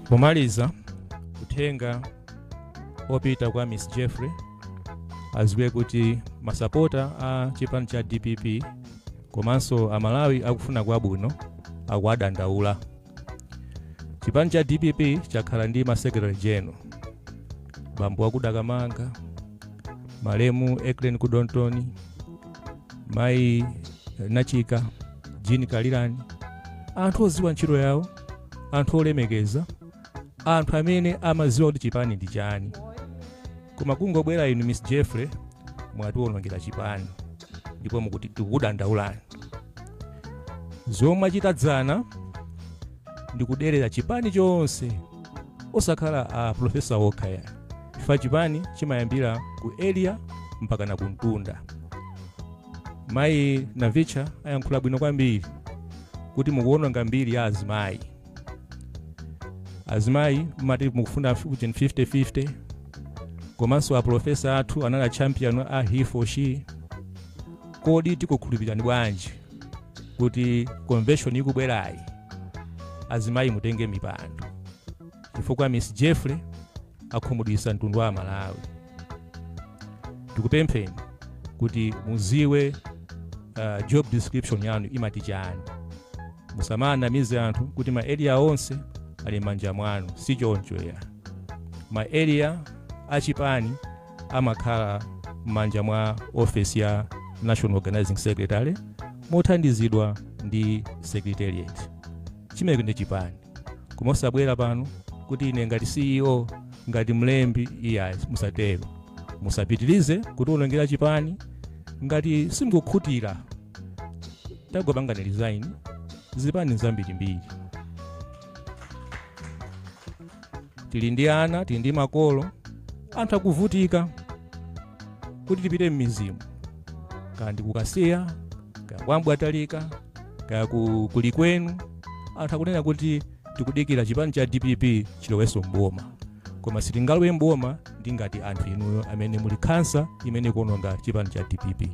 pomaliza uthenga opita kwa miss jeffrey aziwe kuti masapota a chipani cha dpp komanso amalawi akufuna kwabwino akuwadandaula chipani cha dpp chakhala ndi masekretary general bambo wakuda Kamanga malemu Ecklen Kudontoni mayi doctor Jean Kalirani anthu oziwa ntchito yawo anthu olemekeza anthu amene amaziwa kuti chipani ndi chani koma kungobwera inu miss jeffrey mwatiwonongera chipani ndipo mokuti tikukudandaulani zomwe mwachita dzana ndi kuderera chipani chonse osakhala a profesa okha ya chifukwa chipani chimayambira ku area mpaka na kumtunda Mayi Navicha ayankhula bwino kwambiri kuti mukuwononga mbiri ya azimayi. Azimayi mumati mukufuna ujeni 50-50 komanso apulofesa athu anali achampion a he for she. Kodi tikukhulupirirani bwanji kuti convention ikubwerayi azimayi mutenge mipando? Chifukwa Miss Jeffrey akhumudwisa mtundu wa amalawi tikupempheni kuti muziwe uh, job description yanu imati chani musamanamize anthu kuti ma area onse ali m'manja mwanu si choncho ya ma area achipani amakhala m'manja mwa ofesi ya national organizing secretary mothandizidwa ndi secretariat Chimenecho ndi chipani. Koma osabwera pano kuti ine ngati CEO, ngati mlembi, iyayi musatero. Musapitirize kutiwonongera chipani. Ngati simukukhutira, tangopangani resign. Zipani n'zambirimbiri. tili ndi ana tili ndi makolo anthu akuvutika kuti tipite m'midzimu kaya ndi kukasiya kaya kwambwatalika kaya ku- kuli kwenu anthu akunena kuti tikudikira chipani cha dpp chilowenso mboma koma sitingalowe mboma ndi ngati anthu inuyo amene muli khansa imene ikuononga chipani cha dpp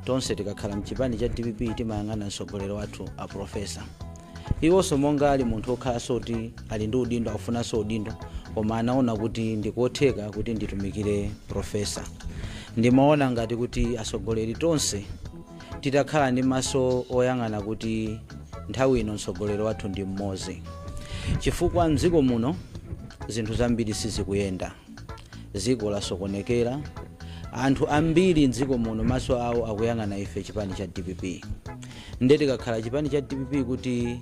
tonse tikakhala mchipani cha dpp timayang'ana mtsogoleri wathu a profesa Iwonso monga ali munthu okhalanso kuti ali ndi udindo akufunanso udindo koma anaona kuti ndi kotheka kuti nditumikire Profesa. Ndimaona ngati kuti atsogoleri tonse titakhala ndi maso oyang'ana kuti nthawi ino mtsogoleri wathu ndi m'modzi chifukwa m'dziko muno zinthu zambiri sizikuyenda. Dziko lasokonekera, anthu ambiri m'dziko muno maso awo akuyang'ana ife chipani cha dpp. Nde tikakhala chipani cha dpp kuti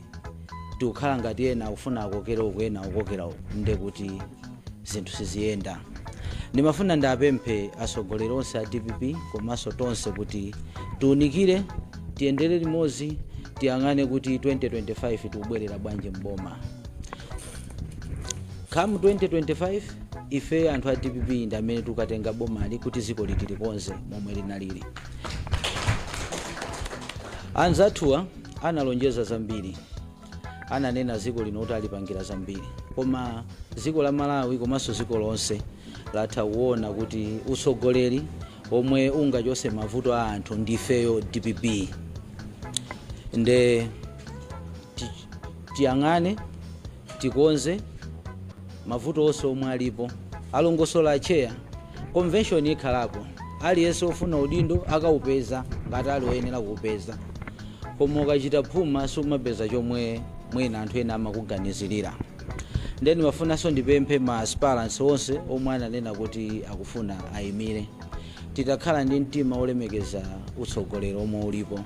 tikukhala ngati ena akufuna akokere uku ena akokere uku, nde kuti zinthu siziyenda. Ndimafuna ndiapemphe atsogoleri onse a dpp komanso tonse kuti tiunikire, tiyendere limodzi, tiyang'ane kuti 2025 tikubwerera bwanji m'boma. come 2025 ife anthu a dpp ndi amene tukatenga bomali kuti ziko li tilikonze momwe linalili anzathuwa analonjeza zambiri ananena ziko lino kuti alipangira zambiri koma ziko la malawi komanso ziko lonse latha kuona kuti utsogoleri omwe ungachose mavuto a anthu ndifeyo dpp nde Tiyang'ane, tikonze, mavuto onse omwe alipo, alongosola Atcheya. Convention ikhalapo, aliyense ofuna udindo akaupeza ngati ali oyenera kuupeza. Koma ukachita phuma sumapeza chomwe mwina anthu ena amakuganizirira. Ndiye ndimafunanso ndipemphe ma aspirants onse omwe ananena kuti akufuna ayimire. titakhala ndi mtima wolemekeza utsogolero omwe ulipo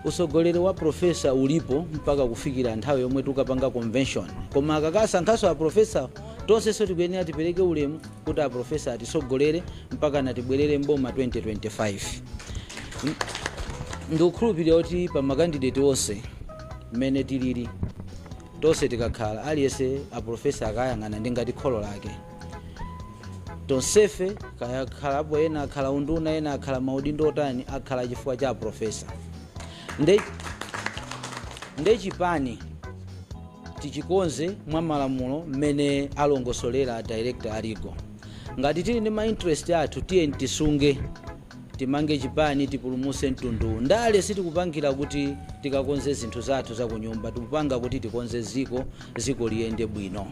utsogolero wa profesa ulipo mpaka kufikira nthawi yomwe tukapanga convention koma akakasankhaso aprofesa tonsenso tikuyenera tipereke ulemu kuti aprofesa atitsogolere mpaka natibwerere mboma 2025 ndikukhulupirira kuti pa makandideti onse mmene tilili Tonse tikakhala aliyense aprofesa akawayang'ana ndi ngati kholo lake tonsefe kaya akhalapo ena akhala unduna ena akhala maudindo otani akhala chifukwa cha aprofesa nde chipani tichikonze mwa malamulo mmene alongosolera director a legal ngati tili ndi ma interest athu tiye tisunge Timange chipani tipulumuse mtundu. Ndale sitikupangira kuti tikakonze zinthu zathu zakunyumba tikupanga kuti tikonze ziko ziko liyende bwino.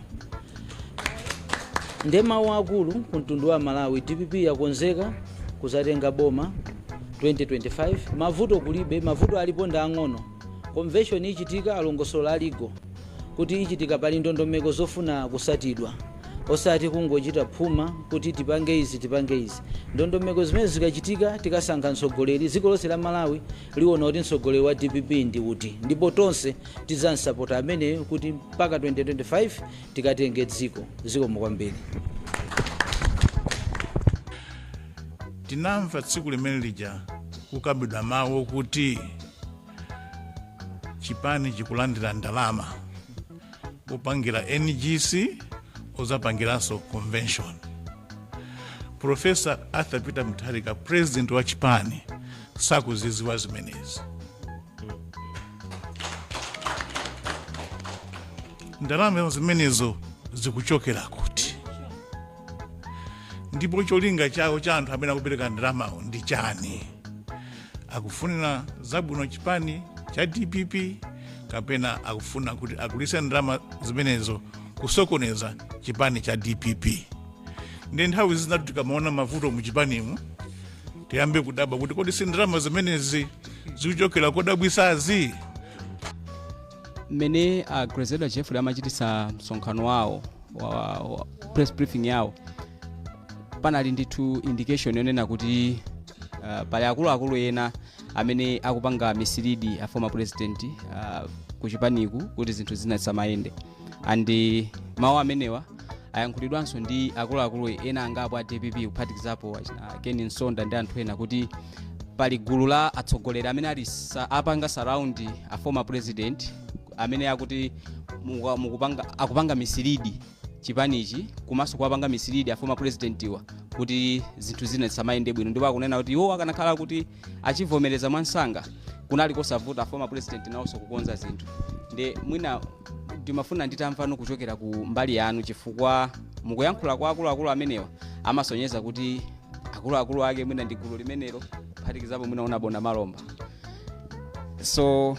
Nde mau akulu ku mtundu wa Malawi dpp yakonzeka kuzatenga boma 2025 mavuto kulibe mavuto alipo nda ang'ono. Convention ichitika alongosola a Legal kuti ichitika pali ndondomeko zofuna kusatidwa osati kungochita phuma kuti tipange izi tipange izi. Ndondomeko zimenezi zikachitika tikasankha mtsogoleri dziko lonse la Malawi liwona kuti mtsogoleri wa dpp ndi uti ndipo tonse tidzamsapota ameneyo kuti mpaka 2025 tikatenge dziko. Zikomo kwambiri. Tinamva tsiku limene lija kukambidwa mawu okuti chipani chikulandira ndalama kupangira ngc ozapangiranso convention profesa arthur peter mutharika president wa chipani sakuziziwa zimenezi ndalama zimenezo zikuchokera kuti ndipo cholinga chawo cha anthu amene akupereka ndalamawo ndi chani akufunira zabwino chipani cha dpp kapena akufuna kuti agwiritse ndalama zimenezo kusokoneza chipani cha dpp nde nthawi zinatu tikamaona mavuto mu chipanimu tiyambe kudabwa kuti kodi si ndalama zimenezi zikuchokera kodabwisazi mmene a grezelder jeffrey amachitisa msonkhano wawo wa, wa press briefing yawo panali ndithu indication yonena kuti Uh, pali akuluakulu ena amene akupanga mislead a former president uh, kuchipaniku kuti zinthu zina zisamayende and uh, mawu amenewa ayankhulidwanso ndi akuluakulu ena angapo a dpp kuphatikizapo uh, ken msonda ndi anthu ena kuti pali gulu la atsogoleri amene ali sa, apanga surround a former president amene akuti muka- mukupanga akupanga mislead chipanichi komanso kuwapanga mislead a former presidentiwa kuti zinthu zina zisamayende bwino ndipo akunena kuti iwo akanakhala kuti achivomereza mwansanga kunali kosavuta a former president nawonso kukonza zinthu nde mwina ndimafuna nditamvano kuchokera ku mbali yanu chifukwa mukuyankhula kwa akuluakulu amenewa amasonyeza kuti akuluakulu ake mwina ndi gulu limenelo kuphatikizapo mwina honourable namalomba so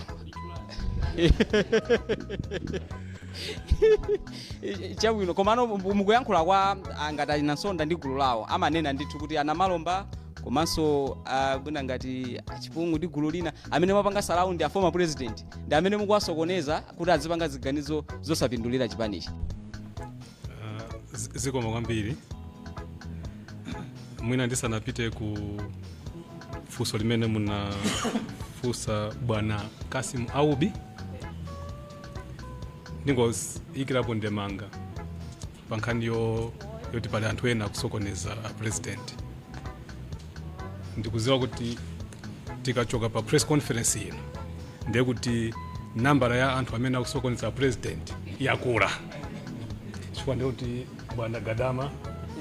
chabwino komano mukuyankhula kwa angati a ken msonda ndi gulu lawo amanena ndithu kuti a namalomba komanso ah, mwina ngati a chipungu ndi gulu lina amene mwapanga surround a former president ndi amene mukuwasokoneza kuti azipanga ziganizo zosapindulira chipanichi Z- zikomo kwambiri mwina ndisanapite ku funso limene munafunsa bwana kasim aubi ndingoyikirapo ndemanga pa nkhani yo- yoti pali anthu ena akusokoneza a president ndikuziwa kuti tikachoka pa press conference ino ndiye kuti nambala ya anthu amene akusokoneza president yakula chifukwa ndiye kuti bwana gadama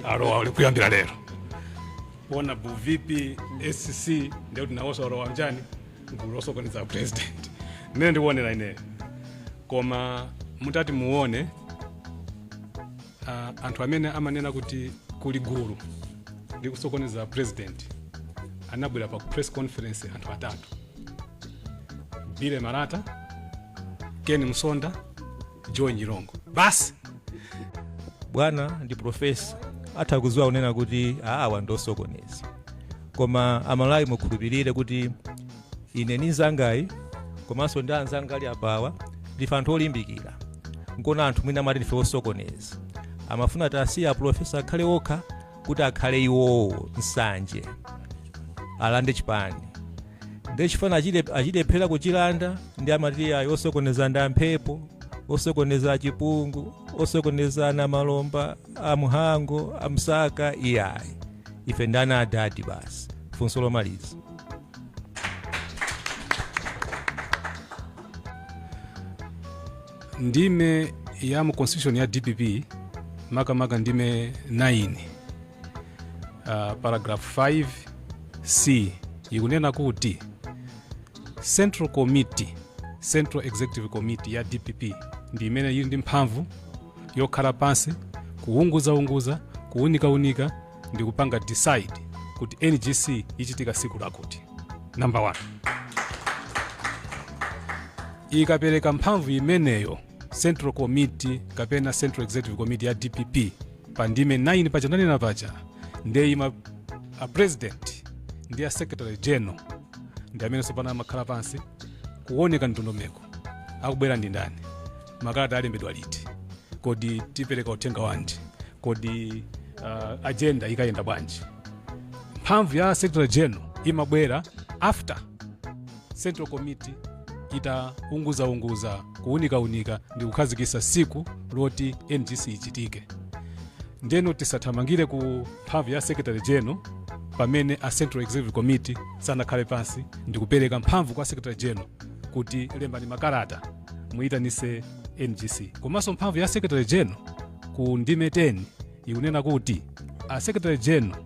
alowa uli kuyambira lero honourable vp scc ndiye kuti nawonso alowa mchani gulu losokoneza president mmene ndikuonera ineyo koma mutati muone Ah, anthu amene amanena kuti kuli gulu likusokoneza president anabwera pa press conference anthu atatu bile marata ken msonda joe nyirongo basi bwana ndi profesa atha kudziwa kunena kuti awa ndi osokoneza koma amalawi mukhulupirire kuti ine ndi mzangayi komanso ndi anzanga ali apawa ndife anthu olimbikira nkona anthu mwina amati ndife osokoneza amafuna tasiya apulofesa akhale okha kuti akhale iwowo nsanje alande chipani nde chifana achile- achilephera kuchilanda nde amati ayi osokoneza ndi amphepo osokoneza achipungu osokoneza anankhumwa amhango amsaka iyayi ife ndi ana adadi basi funso lomaliza ndime ya mu constitution ya dpp makamaka ndime 9 uh, paragraph 5 c ikunena kuti central committee central executive committee ya dpp ndi imene ili ndi mphamvu yokhala pansi kuwunguzaunguza kuwunikawunika ndikupanga decide kuti ngc ichitika siku lakuti number one ikapereka mphamvu imeneyo central committee kapena central executive committee ya dpp pa ndime 9 paja nanena paja ndiye iwo a president ndi a secretary general ndi amene tsopano amakhala pansi kuunika ndondomeko akubwera ndi ndani makalata alembedwa liti kodi tipereka uthenga wanji kodi uh, agenda ikayenda bwanji mphamvu ya secretary general imabwera after central committee itaunguzaunguza kuunikaunika ndi kukhazikisa siku loti ngc ichitike ndeno tisathamangire ku mphamvu ya secretary general pamene a central executive committee sanakhale pansi ndikupereka mphamvu kwa secretary general kuti lembani makalata muyitanise ngc komanso mphamvu ya secretary general ku ndime 10 ikunena kuti a secretary general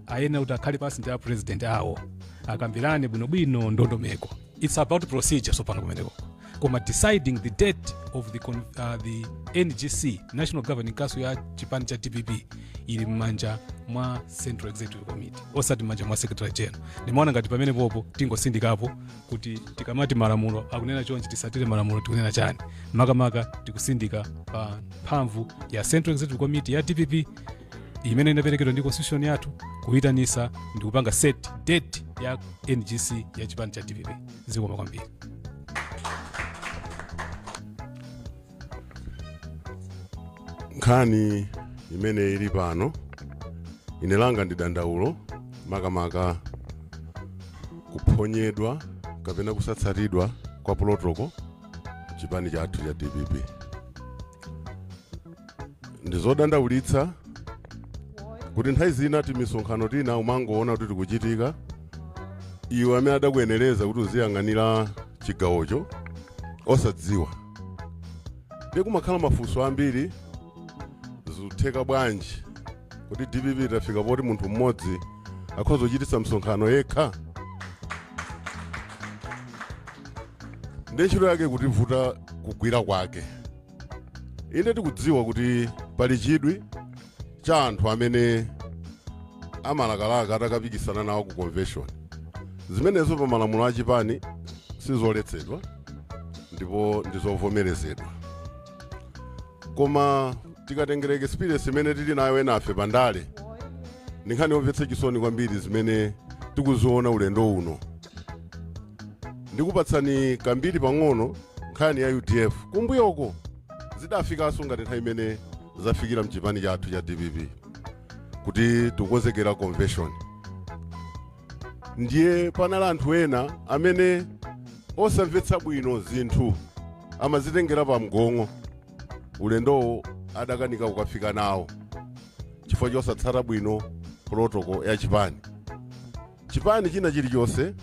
ayenera kuti akhale pansi ndi a president awo akambirane bwinobwino ndondomeko its about procedure tsopano kumeneko koma deciding the date of the, con- uh, the ngc national governing council ya chipani cha dpp ili m'manja mwa central executive committee osati m'manja mwa secretary general ndimaona ngati pamenepopo tingotsindikapo kuti tikamati malamulo akunena chonchi tisatire malamulo tikunena chani makamaka tikutsindika pa mphamvu ya central executive committee ya dpp imene inaperekedwa ndi constitution yathu kuyitanisa ndi kupanga set date ya ngc ya chipani cha dpp zikomo kwambiri nkhani imene ili pano ine langa ndi dandaulo makamaka kuphonyedwa kapena kusatsatidwa kwa protoko chipani chathu cha dpp ndi zodandaulitsa kuti nthawi zina timisonkhano tina umangoona kuti tikuchitika iwe amene adakuyenereza kuti uziyang'anira chigawocho osadziwa ndiye kumakhala mafunso ambiri zikutheka bwanji kuti dpp itafika poti munthu mmodzi akhoza kuchititsa msonkhano yekha ndiye ntchito yake ikutivuta kugwira kwake inde tikudziwa kuti pali chidwi cha anthu amene amalakalaka atakapikisana nawo ku convention zimenezo pa malamulo a chipani sizoletsedwa ndipo ndizovomerezedwa koma tikatengera experience imene tili nayo enafe pa ndale ndi nkhani yomvetsa chisoni kwambiri zimene tikuziona ulendo uno ndikupatsani kambiri pang'ono nkhani ya udf kumbuyoko zidafikanso ngati nthawi imene zafikira mchipani chathu cha dpp kuti tikukonzekera convention ndiye panali anthu ena amene osamvetsa bwino zinthu amazitengera pa mgong'o ulendowo adakanika kukafika nawo chifukwa chosatsata bwino protoko ya chipani Chipani china chilichonse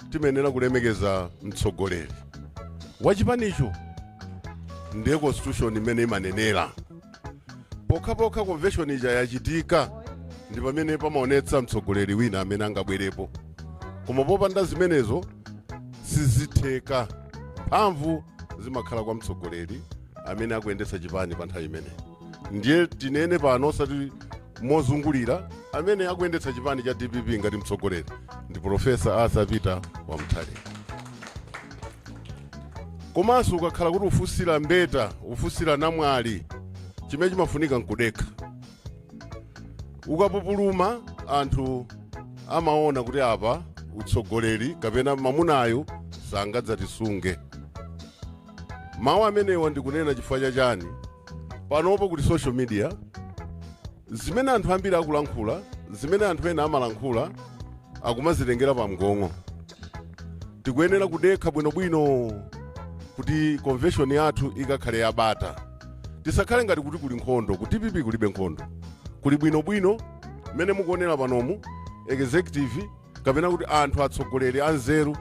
timayenera kulemekeza mtsogoleri wa chipanicho, ndiye constitution imene imanenera. Pokhapokha convention ija yachitika ndi pamene pamaonetsa mtsogoleri wina amene angabwerepo, koma popanda zimenezo sizitheka. Mphamvu zimakhala kwa mtsogoleri amene akuyendetsa chipani pa nthawi imeneyi. ndiye tinene pano osati mozungulira amene akuyendetsa chipani cha dpp ngati mtsogoleri ndi profesa arthur peter wa mutharika komanso ukakhala kuti ufunsira mbeta ufunsira namwali chimene chimafunika nkudekha ukapupuluma anthu amaona kuti apa utsogoleri kapena mamunayu sangadzatisunge Mawu amenewa ndikunena chifukwa cha chani? Panopo ku social media, zimene anthu ambiri akulankhula, zimene anthu ena amalankhula akumazitengera pamgong'o. Tikuyenera kudekha bwinobwino kuti convention yathu ikakhale yabata. Tisakhale ngati kuti kuli nkhondo, ku dpp kulibe nkhondo. Kuli bwinobwino, mmene mukuonera panomu, executive, kapena kuti anthu atsogoleri anzeru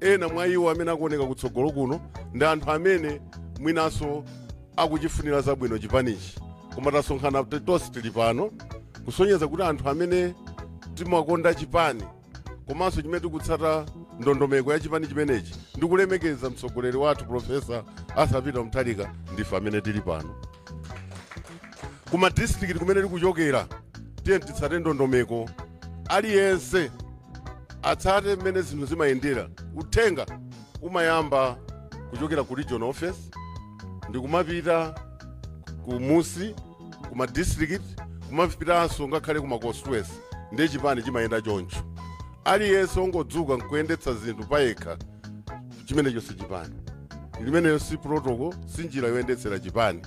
ena mwa iwo amene akuoneka kutsogolo kuno ndi anthu amene mwinanso akuchifunira zabwino chipanichi koma tasonkhana t- tonse tili pano kusonyeza kuti anthu amene timakonda chipani komanso chimene tikutsata ndondomeko ya chipani chimenechi ndi kulemekeza mtsogoleri wathu profesa Arthur Peter Mutharika ndife amene tili pano kuma districts kumene tikuchokera tiye titsate ndondomeko aliyense atsate mmene zinthu zimayendera uthenga umayamba kuchokera ku region office ndikumapita kumunsi ku ma district kumapitanso ngakhale ku ma constituency ndiye chipani chimayenda choncho aliyense ongodzuka nkuyendetsa zinthu payekha chimenecho si chipani limeneyo si protocol si njira yoyendetsera chipani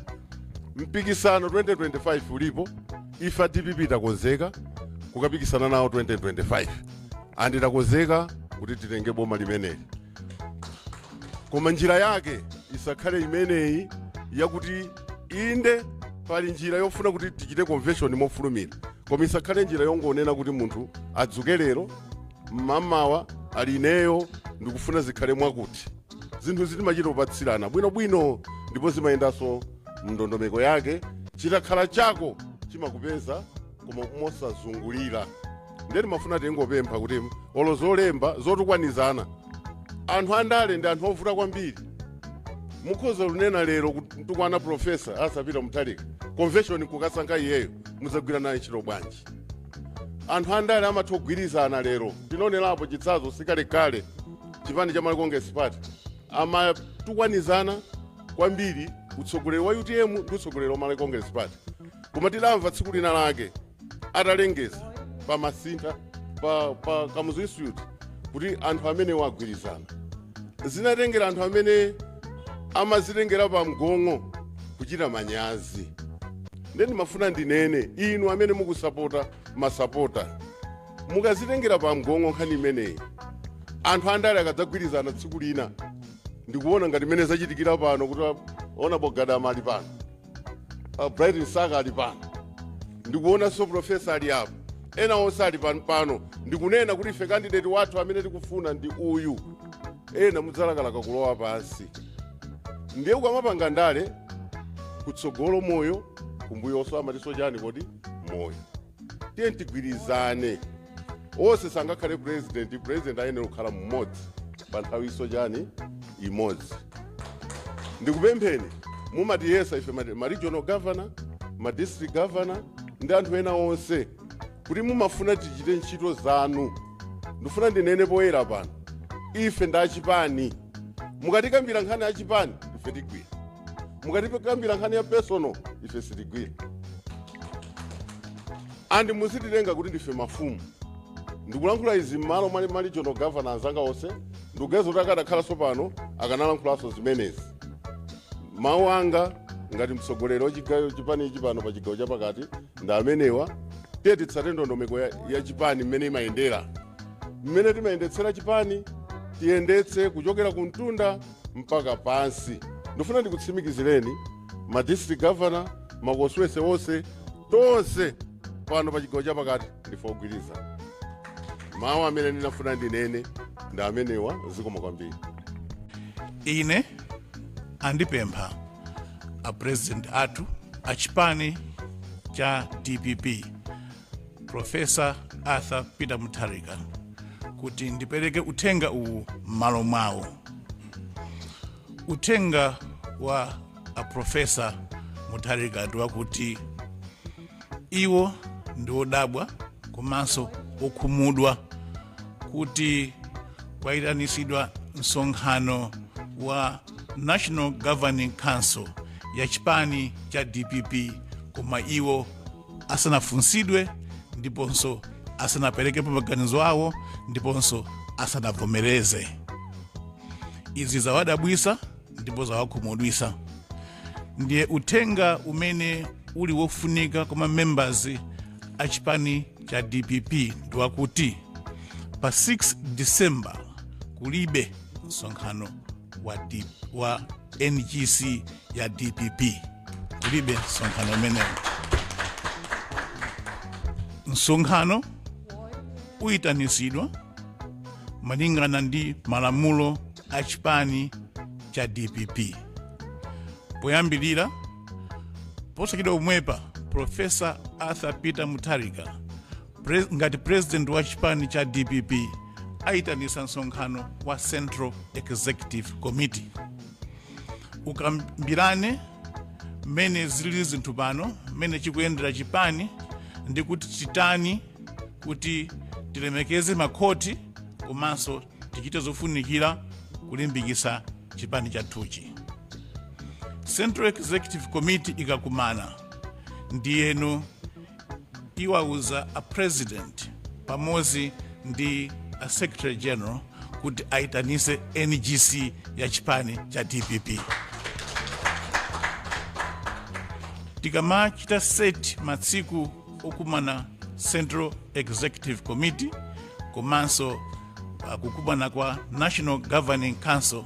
mpikisano 2025 ulipo ife a dpp takonzeka kukapikisana nawo 2025 and takonzeka kuti titenge boma limeneli koma njira yake isakhale imeneyi yakuti inde pali njira yofuna kuti tichite convention mofulumira koma isakhale njira yongonena kuti munthu adzuke lero mmamawa ali ineyo ndikufuna zikhale mwakuti zinthu izi timachita kupatsirana bwinobwino ndipo zimayendanso mndondomeko yake chitakhala chako chimakupeza koma mosazungulira ndiye timafuna tingopempha kuti olo zolemba zotukwanizana anthu andale ndi anthu ovuta kwambiri mukhoza kunena lero kutukwana profesa Arthur Peter Mutharika convention kukasankha iyeyo mudzagwira naye ntchito bwanji anthu andale amatha kugwirizana lero tinaonerapo chitsazo sikalekale chipani cha malawi congress party amatukwanizana kwambiri utsogoleri wa utm ndi utsogoleri wa malawi congress party koma tidamva tsiku lina lake atalengeza pa masintha pa, pa kamuzu institute kuti anthu amenewo agwirizana zinatengera anthu amene amazitengera pa mgong'o kuchita manyazi nde ndimafuna ndinene inu amene mukusapota masapota mukazitengera pa mgong'o nkhani imeneyi anthu andale akadzagwirizana tsiku lina ndikuona ngati mmene zachitikira pano kuti ona bogadama ali pano uh, Bright Msaka ali pano ndikuonanso profesa ali apo ena onse ali pan- pano ndikunena kuti ife kandideti wathu amene tikufuna ndi uyu ena mudzalakalaka kulowa pansi ndiye ukamapanga ndale kutsogolo moyo kumbuyonso amatinso chani kodi moyo tiyeni tigwirizane onse sangakhale purezidenti purezidenti ayenera kukhala mmodzi pa nthawi isochani imodzi ndikupempheni mumatiyesa ife ma- ma regional governor ma district governor ndi anthu ena onse kuti mumafuna tichite ntchito zanu ndifuna ndinene poyera pano ife ndi achipani mukatikambira nkhani ya chipani ife tigwira mukatikambira nkhani ya personal ife sitigwira and musititenga kuti ndife mafumu ndikulankhula izi mmalo mwa ma regional governor anzanga onse ndikuganiza kuti akadakhalanso pano akanalankhulanso zimenezi mawu anga ngati mtsogoleri wa chipani ichi pano pa chigawo chapakati ndi amenewa tiyeni titsate ndondomeko ya chipani mmene imayendera mmene timayendetsera chipani tiyendetse kuchokera ku mtunda mpaka pansi. Ndifuna ndikutsimikizireni ma district governor, ma constituency onse, tonse pano pa chigawo chapakati ndife ogwirizana. Mawu amene ndinafuna ndinene ndi amenewa zikomo kwambiri. ine andipempha a president athu a chipani cha dpp profesa arthur peter mutharika kuti ndipereke uthenga uwu m'malo mwawo uthenga wa aprofesa mutharika ndi wakuti iwo ndi odabwa komanso okhumudwa kuti kwayitanisidwa msonkhano wa national governing council ya chipani cha dpp koma iwo asanafunsidwe ndiponso asanaperekepo maganizo awo ndiponso asanavomereze izi zawadabwisa ndipo zawakhumudwisa ndiye uthenga umene uli wofunika kwa ma members a chipani cha dpp ndi wakuti pa 6 december kulibe msonkhano wa ngc ya dpp kulibe msonkhano umenewo msonkhano uyitanisidwa malingana ndi malamulo a chipani cha dpp poyambirira posachedwa pomwepa profesa arthur peter mutharika ngati president wa chipani cha dpp aitanisa msonkhano wa central executive committee ukambirane mmene zili zinthu pano mmene chikuyendera chipani ndi kuti titani kuti tilemekeze makhoti komanso tichite zofunikira kulimbikisa chipani chathuchi central executive committee ikakumana ndiyeno iwauze a president pamodzi ndi a secretary general kuti aitanise ngc ya chipani cha dpp tikamachita set masiku okumana central executive committee komanso uh, kukumana kwa national governing council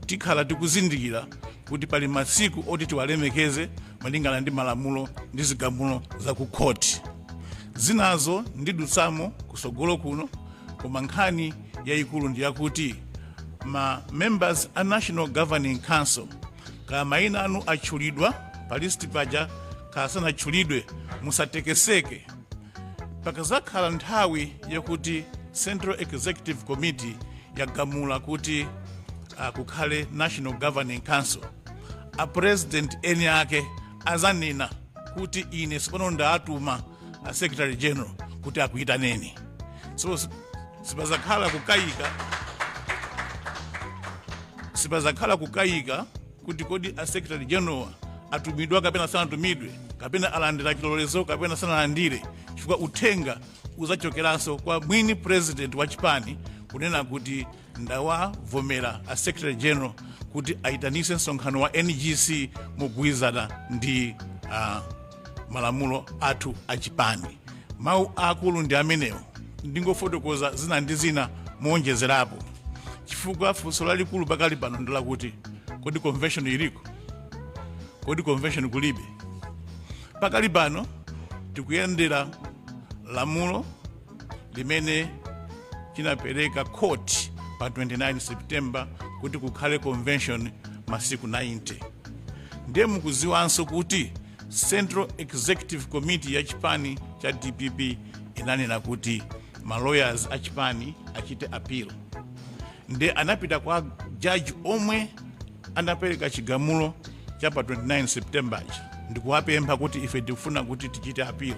tikhala tikuzindikira kuti pali masiku oti tiwalemekeze malingana ndi malamulo ndi zigamulo za ku khoti. Zinazo ndidutsamo kutsogolo kuno koma nkhani yayikulu ndi yakuti ma members a National Governing Council kaya mayina anu atchulidwa pa list paja kaya sanatchulidwe musatekeseke pakazakhala nthawi yakuti central executive committee yagamula kuti uh, kukhale national governing council a president eni ake azanena kuti ine tsopano ndatuma a secretary general kuti akuyitaneni so sipazakhala kukayika kuti kodi a secretary general atumidwa kapena sanatumidwe kapena alandira chilolezo kapena sanalandire chifukwa uthenga uzachokeranso kwa mwini president wa chipani kunena kuti ndawavomera a secretary general kuti ayitanise msonkhano wa ngc mogwirizana ndi malamulo athu a chipani mawu aakulu ndi amenewo ndingofotokoza zina ndi zina mowonjezerapo chifukwa funso lalikulu pakali pano ndi lakuti kodi convention iliko kodi convention kulibe pakali pano tikuyendera lamulo limene chinapereka court pa 29 september kuti kukhale convention masiku 90 ndiye mukuziwanso kuti central executive committee ya chipani cha dpp inanena kuti ma lawyers a chipani achite appeal nde anapita kwa jaji omwe anapereka chigamulo cha pa 29 september ndikuwapempha kuti ife tikufuna kuti tichite appeal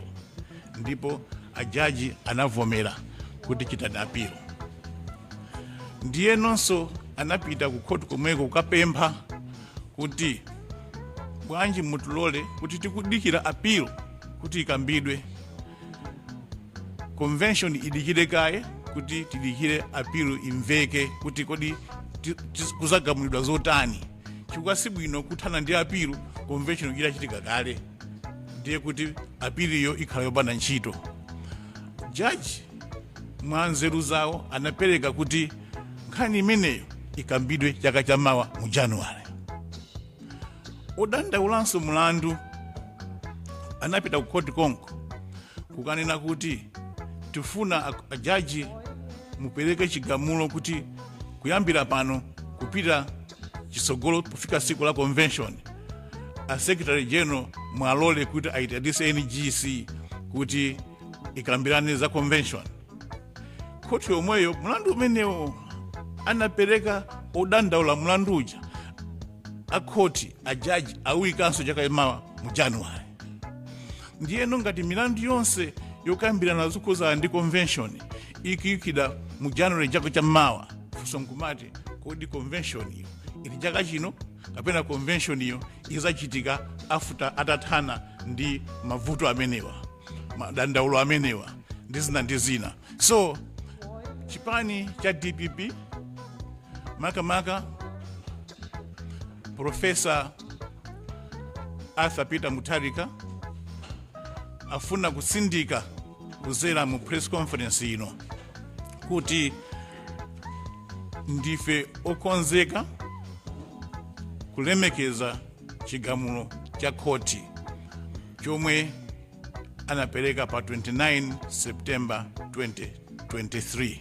ndipo ajaji anavomera kuti chitani apilo ndiyenonso anapita ku khoti komweko kukapempha kuti bwanji mutilole kuti tikudikira apilo kuti ikambidwe convention idikire kaye kuti tidikire apilo imveke kuti kodi kuzagamulidwa zotani chifukwa si bwino kuthana ndi apilo convention itachitika kale ndiye kuti apiliyo ikhala yopanda ntchito jaji mwa nzeru zawo anapereka kuti nkhani imeneyo ikambidwe chaka cha mawa mu januwale odandaulanso mulandu anapita ku khoti konko kukanena kuti tifuna a- ajaji mupereke chigamulo kuti kuyambira pano kupita chitsogolo kufika siku la convention a secretary general mwalole kuti ayitanise ngc kuti ikambirane za convention khoti yomweyo mlandu umenewo anapereka odandaula mlandu uja akhoti ajaji awuyikanso chaka cha mawa mu januwari ndiyeno ngati milandu yonse yokambirana zokhuzana ndi convention ikuyikidwa mu januwari chaka cha mawa funso nkumati kodi convention iyo ili chaka chino kapena konvenshoniyo izachitika after atathana ndi mavuto amenewa madandaulo amenewa ndi zina ndi zina so chipani cha dpp makamaka profesa arthur peter mutharika afuna kutsindika kuzera mu press conference ino kuti ndife okonzeka kulemekeza chigamulo cha khoti chomwe anapereka pa 29 september 2023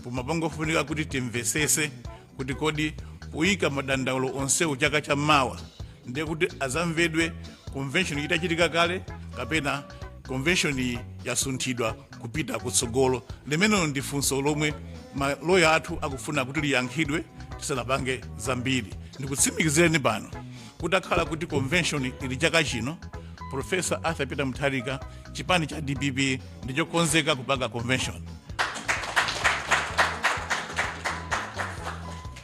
pomapangofunika kuti timvesese kuti kodi poyika madandaulo onsewu chaka cha mawa ndiye kuti azamvedwe convention itachitika kale kapena convention iyi yasunthidwa kupita kutsogolo limenelo ndi funso lomwe maloya athu akufuna kuti liyankhidwe tisanapange zambiri ndikutsimikizireni pano Kuti akhala kuti convention ili chaka chino, Prof. Arthur Peter Mutharika, chipani cha dpp ndichokonzeka kupanga convention.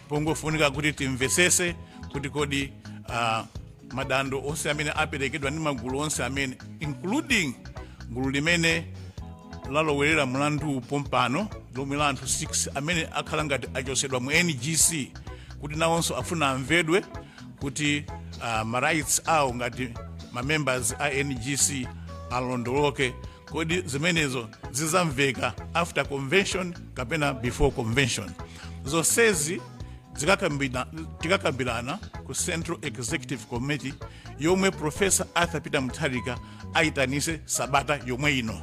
Pangofunika kuti timvesese kuti kodi uh, madandaulo onse amene aperekedwa ndi magulu onse amene including gulu limene lalowerera mlandu pompano lomwe la anthu 6 amene akhala ngati achosedwa mu ngc kuti nawonso afuna amvedwe kuti uh, ma rights awo ngati ma members a ngc alondoloke kodi zimenezo zizamveka after convention kapena before convention zonsezi zikakambira- tikakambirana ku central executive committee yomwe profesa arthur peter mutharika ayitanise sabata yomwe ino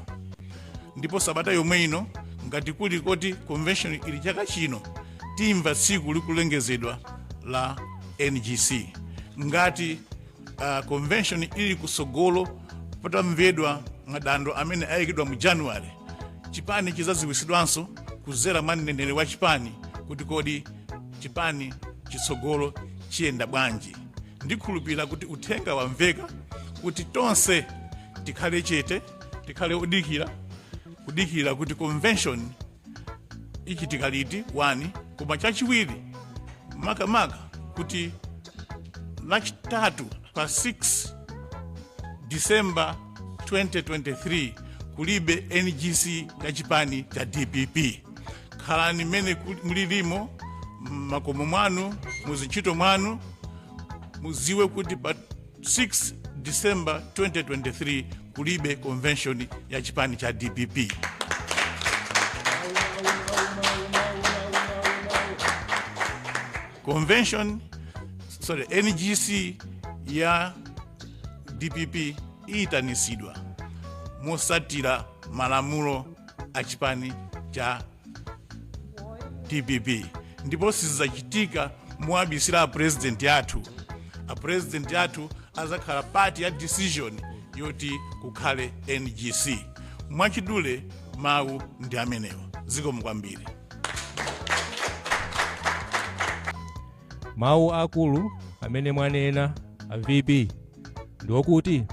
ndipo sabata yomwe ino ngati kuli koti convention ili chaka chino timva tsiku likulengezedwa la ngc ngati uh, convention ili kutsogolo patamvedwa madando amene ayikidwa mu january chipani chizaziwisidwanso kuzera mwa mneneri wa chipani kuti kodi chipani chitsogolo chiyenda bwanji ndikhulupirira kuti uthenga wamveka kuti tonse tikhale chete tikhale odikira kudikira kuti convention ichitika liti wani koma chachiwiri makamaka kuti lachitatu pa 6 december 2023 kulibe ngc ya chipani cha dpp khalani mmene ku- mulilimo m'makomo mwanu muzintchito mwanu muziwe kuti pa 6 disemba 2023 kulibe convention ya chipani cha dpp convention sorry ngc ya dpp iyitanitsidwa mosatira malamulo a chipani cha dpp ndipo sizizachitika mowabisira apurezidenti athu apurezidenti athu azakhala part ya decision yoti kukhale ngc mwachidule mawu ndi amenewa zikomo kwambiri mawu akulu amene mwanena a vp ndi okuti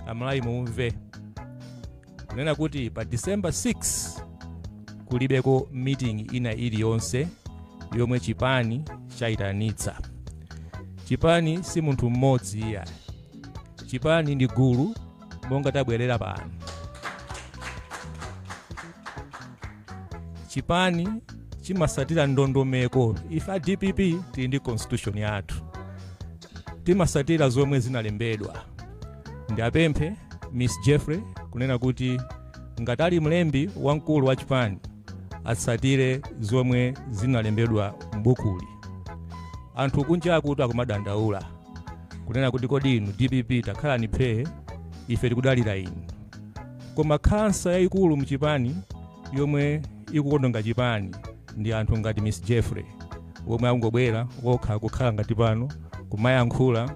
amalawi mumve kunena kuti pa december 6 kulibeko meeting ina iliyonse yomwe chipani chayitanitsa chipani si munthu mmodzi iya chipani ndi gulu monga tabwerera pano chipani chimasatira ndondomeko ife a dpp tili ndi constitution yathu timasatira zomwe zinalembedwa Ndiapemphe Miss Jeffrey kunena kuti ngati ali mlembi wamkulu wa chipani atsatire zomwe zinalembedwa m'bukuli. Anthu kunja akuti akumadandaula kunena kuti kodi inu dpp takhalani phee ife tikudalira inu. Koma khansa yayikulu mchipani yomwe ikuononga chipani ndi anthu ngati Miss Jeffrey omwe akungobwera okha kukhala ngati pano kumayankhula